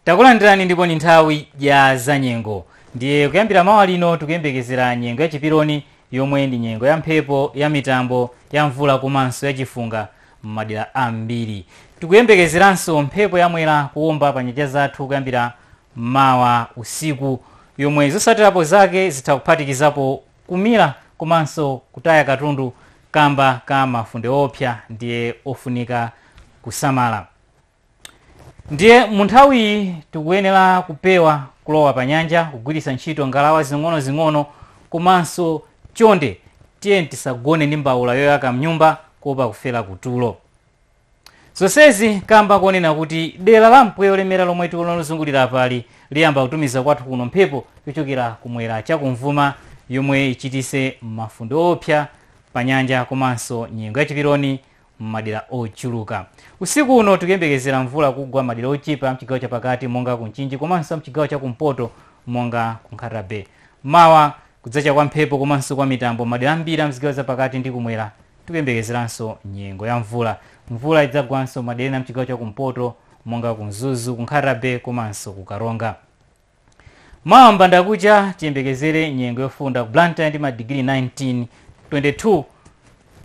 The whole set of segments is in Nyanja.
Takulandirani ndipo ndi nthawi ya zanyengo. Ndiye kuyambira mawa lino tikuyembekezera nyengo ya chiperoni yomwe ndi nyengo ya mphepo, ya mitambo, ya mvula komanso ya chifunga m'madera ambiri. Tikuyembekezeranso mphepo ya Mwera kuomba pa nyanja zathu kuyambira mawa usiku yomwe zotsatirapo zake zitha kuphatikizapo kumira komanso kutaya katundu kamba ka mafunde oopsa ndiye ofunika kusamala. ndiye munthawiyi tikuyenera kupewa kulowa pa nyanja kugwiritsa ntchito ngalawa zing'onozing'ono komanso chonde tiyeni tisagone ndi mbawula yoyaka mnyumba kuopa kufera kutulo zonsezi kamba konena kuti dera la mpweya wolemera lomwe tikuona lozungulira apali liyamba kutumiza kwathu kuno mphepo yochokera kumwera chakuvuma yomwe ichititse mafunde oopsa pa nyanja komanso nyengo yachiperoni m'madera ochuluka. Usiku uno tikuyembekezera mvula kugwa madera ochepa amchigawo chapakati monga ku Mchinji komanso amchigawo cha kumpoto monga ku Nkhata Bay. Mawa kudzacha kwa mphepo komanso kwa mitambo madera ambiri amzigawo zapakati ndi kumwera tikuyembekezeranso nyengo ya mvula. Mvula idzagwanso madera ena amchigawo cha kumpoto monga ku Mzuzu, ku Nkhata Bay komanso ku Karonga. Mawa mbandakucha tiyembekezere nyengo yofunda ku Blantyre ndi madigiri 19, 22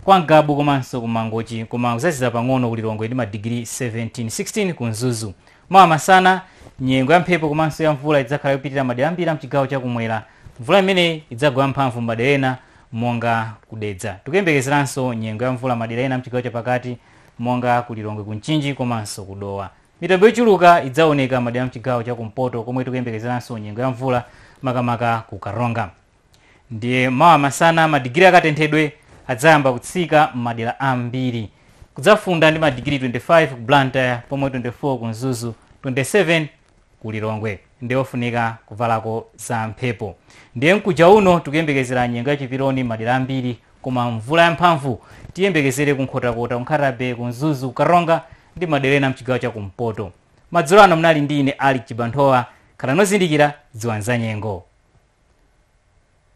kwa Ngabu komanso ku Mangochi koma kudzazizira pang'ono ku Lilongwe ndi madigiri 17, 16 ku Mzuzu. Mawa masana nyengo ya mphepo komanso ya mvula idzakhala yopitirira madera ambiri a mchigawo cha kumwera. Mvula imeneyi idzagwa yamphamvu m'madera ena monga ku Dedza. Tikuyembekezeranso nyengo ya mvula madera ena a mchigawo chapakati monga ku Lilongwe, ku Mchinji komanso ku Dowa. Mitambo yochuluka idzaoneka madera a mchigawo cha kumpoto komwe tikuyembekezeranso nyengo ya mvula makamaka ku Karonga. Ndiye mawa masana madigiri a katenthedwe adzayamba kutsika m'madera ambiri. Kudzafunda ndi madigiri 25 ku Blantyre pomwe 24 ku Mzuzu, 27 ku Lilongwe. Ndiye ofunika kuvalako za mphepo. Ndiye mkucha uno tikuyembekezera nyengo ya chiperoni m'madera ambiri Koma mvula yamphamvu tiyembekezere ku Nkhotakota, ku Nkhata-Bay, ku Mzuzu, ku Karonga ndi madera ena amchigawo cha kumpoto. Madzulo ano munali ndi ine Alick Chibanthowa. Khalani ozindikira, dziwani zanyengo.